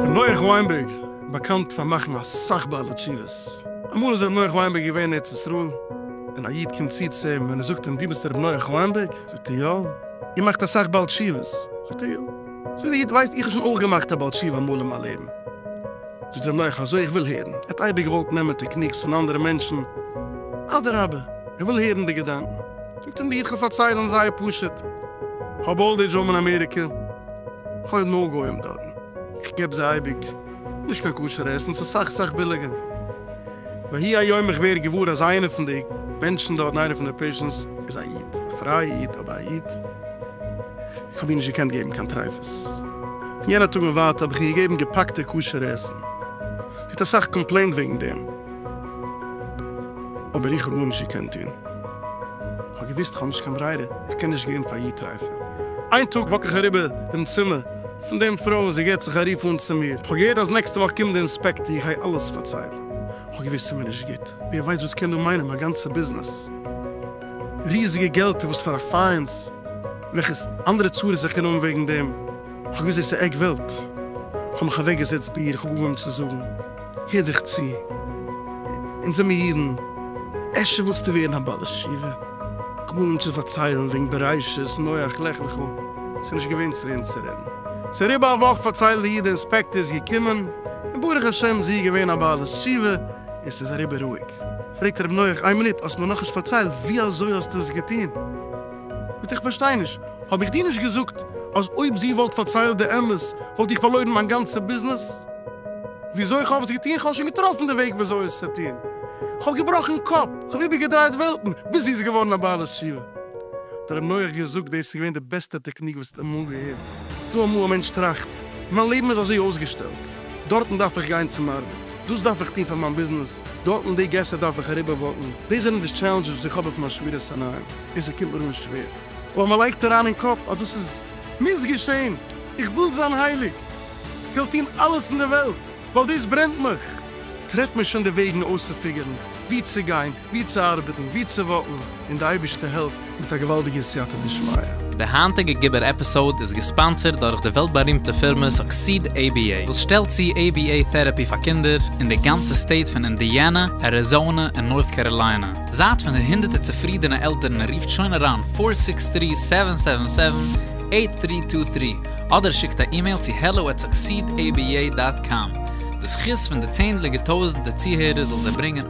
ר' נח וויינבערג באקאנט פאר מאכן אסאך בעלי תשובות. אמאל איז ר' נח וויינבערג געווען אין ארץ ישראל, און א איד קומט צו צו אים און ער זאגט אים דו ביסט ר' נח וויינבערג? זאגט ער יא. איר מאכט אסאך בעל תשובות? זאגט ער יא. זאגט דער איד ווייסט איך האב שוין אויך געמאכט א בעל תשובה אמאל אין מיין לעבן. זאגט אים נח, אזוי? איך וויל הערן. ער האט אייביג געוואלט נעמען טעקניקס פון אנדערע מענטשן, אדרבה, ער וויל הערן די געדאנקען. זאגט אים די איד, כ'וועל פארציילן זייער פשוט, כ'האב אולד עידזש האום אין אמעריקע, כ'לעב נאר גוים דארט, איך געב זיי אייביג נישט קיין כשר עסן, ס'איז סאך סאך ביליגער. ויהי היום איך ווער געוואר אז איינער פון די מענטשן דארט, איינער פון די פעישענטס, איז א איד, א פרייע איד, אבער א איד. כ'האב איר נישט געקענט געבן קיין טריפות. פון יענע טאג און ווייטער האב איך איר געגעבן געפאקטע כשר'ע עסן. זי האט אסאך קאמפלעינט וועגן דעם, אבער איך האב גארנישט געקענט טון. כ'האב געוואוסט כ'האב נישט קיין ברירה, איך קען נישט געבן פאר איר טריפה. איין טאג וואק איך אריבער דעם צימער פון דעם פרוי און זי געבט זיך א רוף אן צו מיר, איך האב געהערט אז נעקסטע וואך קומט די אינספעקטער, איך גיי אלעס פארציילן. כ'האב געוואוסט ס'איז מיר נישט גוט, ווער ווייסט וואס קען דא מיינען מיין גאנצע ביזנעס. ריזיגע געלטער וואס פאר א פיינס וועלכע אנדערע צרות איך קען האבן וועגן דעם, איך האב געוויסט דאס איז עק וועלט, איך האב מיך אוועק געזעצט ביי איר, איך האב אנגעהויבן צו זאגן, הער דיך צו, אונז זעמיר אידן, אפשר ווילסטו ווערן א בעל ישיבה, איך האב אנגעהויבן צו פארציילן וועגן בראשית, נח, לך לך, עס איז נישט געווען צו וועם צו רעדן, עס איז אריבער א וואך פארציילט די איד די אינספעקטאר איז געקומען, און ברוך השם זי איז געווען א בעלת תשובה, און ס'איז אריבער רואיג. פרעגט רבי נוח, איין מינוט, האסט מיר נאכנישט פארציילט ווי אזוי האסטו עס געטון? ביטע איך פארשטיי נישט, האב איך דיר נישט געזאגט אז אויב זי וואלט פארציילט די אמת וואלט איך פארלוירן מיין גאנצע ביזנעס? וויאזוי איך האב עס געטון? כ'האב שוין געטראפן די וועג וויאזוי עס צו טון, כ'האב געבראכן קאפ, כ'האב איבערגעדרייט וועלטן, ביז זי איז געווארן א בעלת תשובה. האט רבי נוח געזאגט, דאס איז געווען די בעסטע טעקניק וואס האסט אמאל געהערט. זאג אמאל, א מענטש טראכט, מיין לעבן איז אזוי אויסגעשטעלט. דארטן דארף איך גיין צום ארבעט, דאס דארף איך טון פאר מיין ביזנעס, דארטן די געסער דארף איך אריבער וואקן, דאס זענען די טשעלענדזשעס וואס איך האב אויף מיין שמירת עיניים, און ס'קומט מיר אן שווער, אבער מען לייגט אריין אין קאפ אז דאס איז מוז געשען, איך וויל זיין הייליג, כ'וועל טון אלעס אין די וועלט ווייל דאס ברענט מיך. טרעף מיר שוין די וועגן אויסצופיגערן וואו צו גיין, ווי צו ארבעטן, ווי צו וואקן, און די אייבערשטער העלפט מיט א געוואלדיגע סייעתא דשמיא. די היינטיגע גיבור עפיסאוד איז געספאנסערד דורך די וועלט בארימטע פירמע סוקסיד עי בי עי וואס שטעלט צו עי בי עי טערעפי פאר קינדער אין די גאנצע סטעיט פון אינדיאנע, אריזאונע און נארט קעראליינע. זייט פון די הונדערטער צופרידענע עלטערן און רופט שוין אריין פֿיר זיבן צוויי זיבן זיבן זיבן, אַכט דרײַ צוויי דרײַ אדער שיקט א אימעיל צו העלא עט סוקסיד עי בי עי דאט קאם. די זכות פון די צענדליגע טויזענטע צוהערער זאל זיי ברענגען.